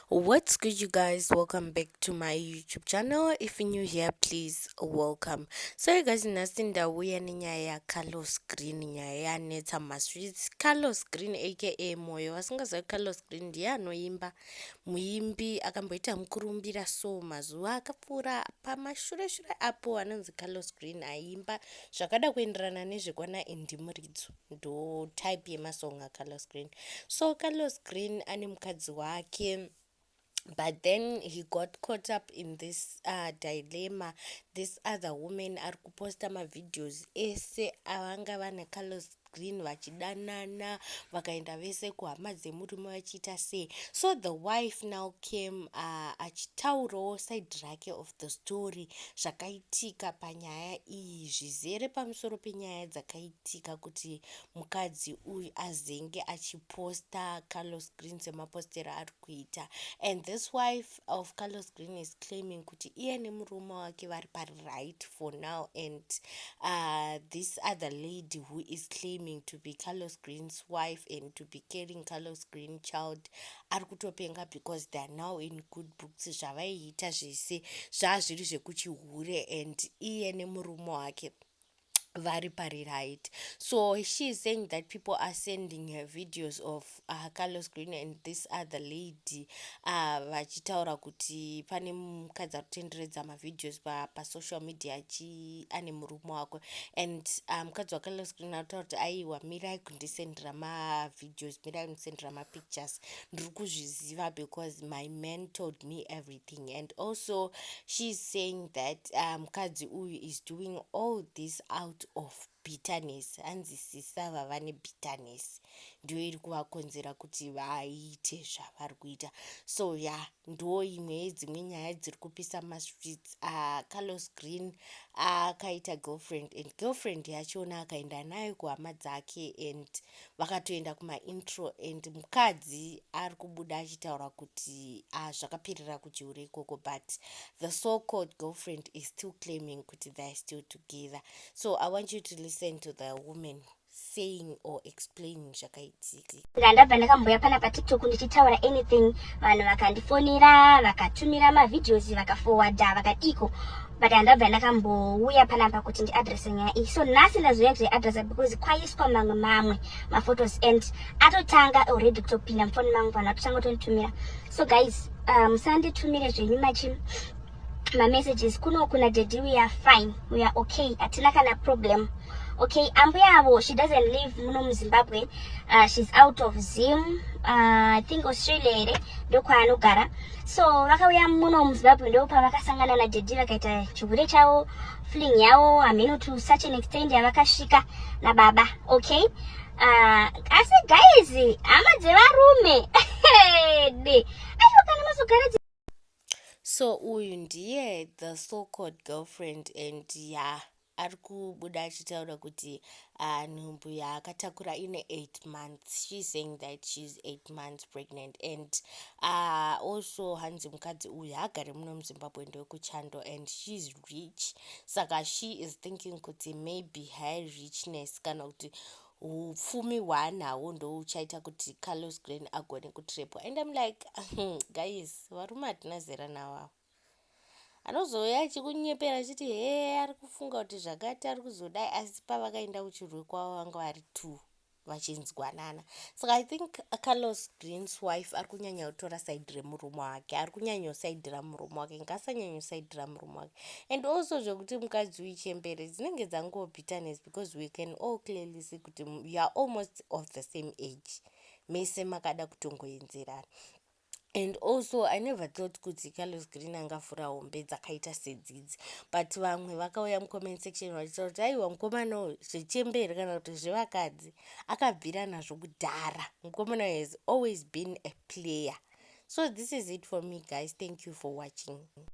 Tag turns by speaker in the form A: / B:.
A: what's good you guys welcome back to my youtube channel if you're new here please welcome so you guys nhasi ndauya nenyaya yacarlos green nyaya yanetsa masweets carlos green aka moyo vasingazivi carlos green ndiye anoimba muimbi akamboita mukurumbira so mazuva akapfuura pamashure shure apo anonzi carlos green aiimba zvakada kuenderana nezvekwana indimuridzo ndo type yemasong acarlos green so carlos green ane mukadzi wake but then he got caught up in this uh, dilemma this other woman ari kuposta mavideos ese avanga vana carlos green vachidanana vakaenda vese kuhama dzemurume vachiita sei so the wife now came uh, achitaurawo side rake of the story zvakaitika panyaya iyi zvizere pamusoro penyaya dzakaitika zvinoitika kuti mukadzi uyu azenge achiposta Carlos Green semapostero aari kuita and this wife of Carlos Green is claiming kuti iye nemurume wake vari paright for now and uh, this other lady who is claiming to be Carlos Green's wife and to be carrying Carlos Green child ari kutopenga because they are now in good books zvavaiita zvese zvazviri zvekuchihure and iye nemurume wake vari pari right so she is saying that people are sending her videos of uh, carlos green and this other lady uh, vachitaura kuti pane mukadzi ari kutenderedza mavideos pasocial pa media achi ane murume wako and uh, mukadzi um, wacarlos green anotaura kuti aiwa mirai kundisendera mavideos mirai kundisendera mapictures ndiri kuzviziva because my man told me everything thing and also she's saying that uh, mukadzi um, uyu is doing all this out of bitterness hanzi sisa vava nebitterness ndiyo iri kuvakonzera kuti vaite zvavari kuita so ya yeah, ndo imwe yedzimwe nyaya dziri kupisa mastreets uh, ah, carlos green akaita uh, girlfriend and girlfriend yachona akaenda nayo kuhama dzake and Vakatoenda kuma intro and mukadzi arikubuda achitaura kuti ah zvakaperera kuchihure ikoko but the so called girlfriend is still claiming kuti they're still together so I want you to listen to the woman saying or explaining zvakaitika. Nga ndabva ndakamboya
B: pana patiktok ndichitaura anything vanhu vakandifonera vakatumira mavideos vakafowadha vakadiko but handabva ndakambouya panapa kuti ndiadresse nyaya iyi so nhasi ndazouya kuzoiadressa because kwaiswa mamwe mamwe maphotos and atotanga already kutopinda mufoni mangu vanhu atotanga kutonditumira so guys uh, musanditumire um, zvenyu machi mamessages kuno kuna daddy we are fine we are okay hatina kana problem okay ambuya avo she doesn't live muno muzimbabwe uh, she's out of zim uh, i think australia here ndokwaanogara so vakauya muno muzimbabwe ndo pavakasangana nadaddy vakaita chihure chavo fling yavo hameno to such an extent yavakasvika nababa okay uh, asi guys hama dzevarume aiwa kana mazogara so
A: uyu ndiye the so called girlfriend and ya yeah. Ari kubuda achitaura kuti ah, nhumbu yaakatakura ine 8 months she is saying that she is 8 months pregnant and ah, also hanzi mukadzi uyu haagare muno muzimbabwe ndewekuchando and she is rich saka she is thinking kuti maybe her richness kana kuti upfumi hwaanahwo ndouchaita kuti carlos glen agone kutrepwa and im like guys varume hatina zera nawo ava anozouya achikunyepera achiti hee ari kufunga kuti zvakati ari kuzodai asi pavakaenda kuchirwe kwavo vanga vari two vachinzwanana saka i think carlos greens wife ari kunyanya kutora saidi remurume wake ari kunyanyosaidira murume wake ngasanyanyosaidira murume wake and also zvekuti mukadzi uyu chembere dzinenge dzangoo bitterness because we can all clearly see kuti youare almost of the same age mese makada kutongoendzerana And also I never thought kuti Carlos Green angavhura hombe dzakaita sedzidzi but vamwe vakauya mucomment section vachitaura kuti aiwa mukomana uyu zvechembe here kana kuti zvevakadzi akabvira nazvo kudhara mukomana uyu has always been a player so this is it for me guys thank you for watching